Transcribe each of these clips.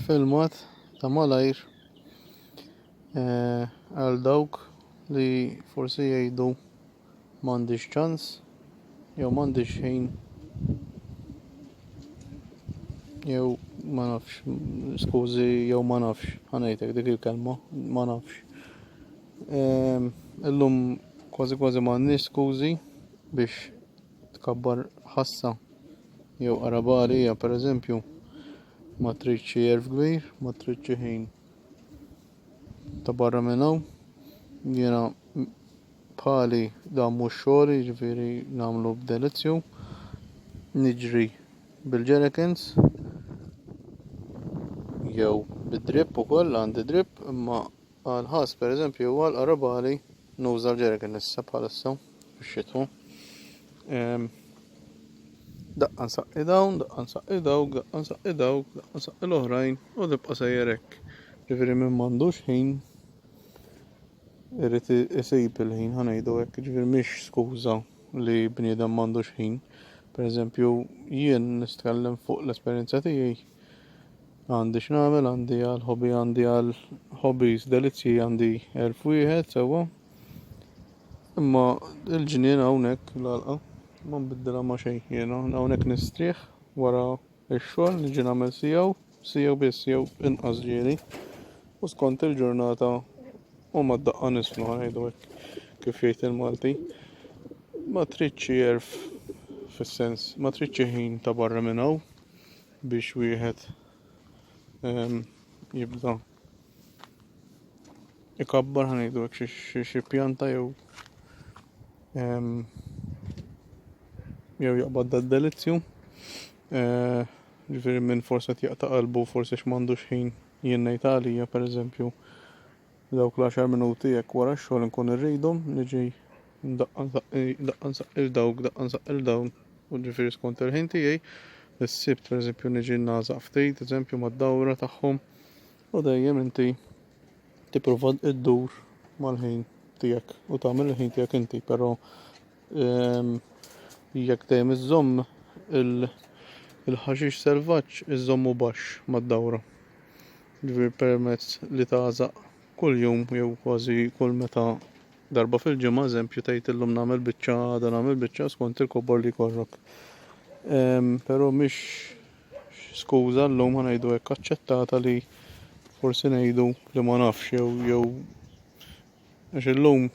filmat ta' malajr eh, għal dawk li forsi jgħidu m'għandix ċans jew m'għandix ħin jew ma nafx skużi jew ma nafx ħanejtek dik il-kelma ma nafx ehm, illum kważi kważi m'għandniex skużi biex tkabbar ħassa jew qarabagħal hija, pereżempju, ma tridx xi għerf kbir, ma tridx xi ħin ta' barra minn hawn. Jiena bħali dan mhux xogħli, jiġifieri nagħmlu b'delizzju. Niġri bil-jerikens jew bid-drip ukoll għandi drip imma Għall-ħass, pereżempju, huwa l-aqrab għali nuża l-ġeriken issa bħalissa fix-xitwa. Daqqa nsaqqi dawn, daqqa nsaqqi dawk, daqqa nsaqqi dawk, daqqa nsaqqi l-oħrajn u tibqa' sejjer hekk. Ġifieri min m'għandux ħin irid isib il-ħin ħa ngħidu hekk, ġifieri mhix skuża li bniedem m'għandux ħin. Pereżempju, jien nitkellem fuq l-esperjenza tiegħi. Għandi x'nagħmel, għandi għal ħobi, għandi għal ħobis delizzji, għandi elf wieħed sewwa. Imma il-ġnien hawnhekk l-għalqa ma nbiddilha ma' xejn. Jiena hawnhekk nistrieħ wara x-xogħol niġi nagħmel siegħu, siegħu biss jew inqas ġieli. U skont il-ġurnata u ma daqqa nislu ngħidu kif jgħid il-Malti. Ma tridx erf fis-sens, ma tridx ħin ta' barra minn hawn. biex wieħed ehm, jibda ikabbar ħanidu xi pjanta jew ehm, jew jaqbad dad delizzju eh, ġifiri minn forse jaqta qalbu forse x'mandux ħin jinnejta għalija per eżempju Dawk l-għaxar minuti jekk wara x-xogħol inkun irridhom niġi daqqa nsaqqil dawk, daqqa nsaqqil dawn, u ġifieri skont il-ħin tiegħi, is-Sibt pereżempju niġi nagħżaq ftit, eżempju mad-dawra tagħhom, u dejjem inti tipprova ddur mal-ħin tiegħek u tagħmel il-ħin tiegħek inti, però Ehm, jekk dejjem iżżomm il-ħaxix selvaġġ iżżommu baxx mad-dawra. Ġifieri permezz li tagħżaq kuljum jew kważi kull meta darba fil-ġimgħa eżempju tgħid illum nagħmel biċċa għada nagħmel biċċa skont il-kobor li jkollok. Ehm, però mhix skuża llum ngħidu hekk aċċettata li forsi ngħidu li ma nafx jew jew għax illum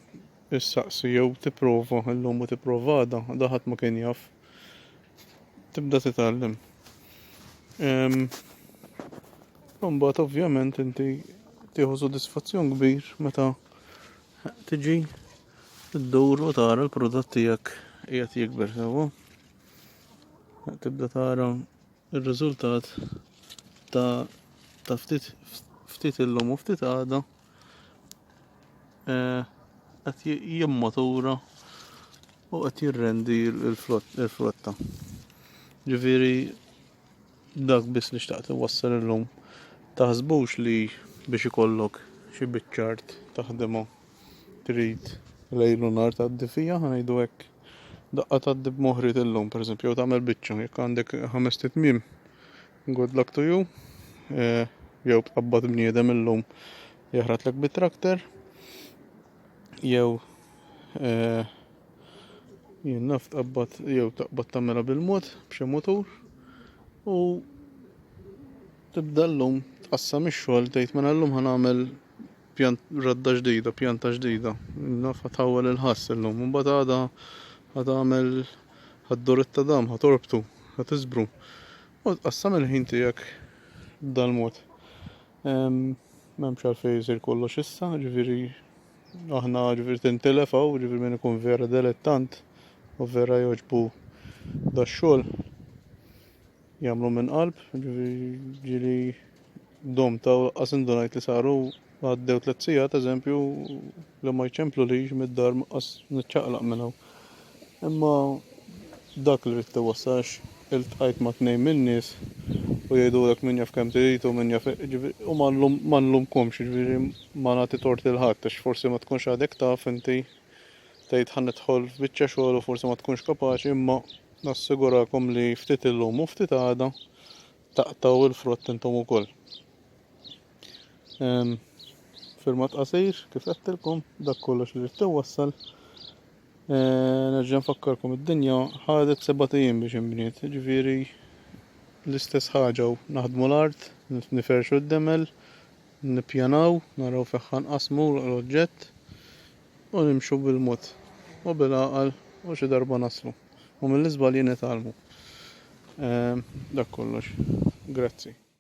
issaqsi jew tipprova llum u tipprova għada, għada ħadd ma kien jaf. Tibda titgħallem. Imbagħad ovvjament inti tieħu sodisfazzjon kbir meta tiġi ddur u tara l-prodott tiegħek qiegħed jikber sewwa. Tibda tara r-riżultat ta' ta' ftit ftit illum u ftit għada eh, qed jimmatura u qed jirrendi l-flotta. Ġifieri dak biss li xtaqt iwassal illum taħsbux li biex ikollok xi biċċart taħdimha trid lejlu nar tgħaddi fija ħanejdu hekk daqqa tgħaddi b'moħrit illum pereżempju jew tagħmel biċċa jekk għandek ħames titmiem Good luck to you. Eh, jew tqabbad bniedem illum jaħratlek bit-trakter. Jew eh, jien naf tqabbad jew taqbad tagħmilha bil-mod b'xi mutur u tibda llum tqassam ix-xogħol tgħid minn mela llum ħanagħmel Pjan, radda ġdida, pjanta ġdida. Naf ħa tħawwel il-ħass illum. Imbagħad għada ħa tagħmel ħad-doret ta' dam, ħa torbtu, ħa tiżbru. U tqassam il-ħin tiegħek b'dal-mod. M'hemmx għalfejn isir kollox issa, ġifieri aħna ġifieri tintilef hawn, ġifieri min ikun vera delettant u vera jogħġbu dax-xogħol Jagħmlu minn qalb, ġieli dom ta' qas indunajt li saru għaddew tliet sigħat eżempju li ma jċemplulix mid-dar qas niċċaqlaq minn hawn. Imma dak li rrid iwassax iltqajt ma' tnejn min-nies u jgħidulek min jaf kemm trid u min jaf u ma nlumkomx ġifieri ma nagħti tort lil ħadd għax forsi ma tkunx għadek taf inti tgħid ħa nidħol f'biċċa xogħol u forsi ma tkunx kapaċi imma Nassigurakom li ftit illum u ftit għada taqtgħu l-frott intom ukoll. Ehm, filmat qasir, kif għedtilkom, dak kollox li rrid wassal. Eh, nerġa' nfakkarkom id-dinja ħadet seba' ijiem biex inbniet, ġifieri l-istess ħaġa u naħdmu l-art, niferxu d-demel, nippjanaw, naraw fejn ħanqasmu l-oġġett, U nimxu bil-mod u bil-għaqal u xi darba naslu. U mill-iżbalji nitgħallmu. Dak kollox. Grazzi.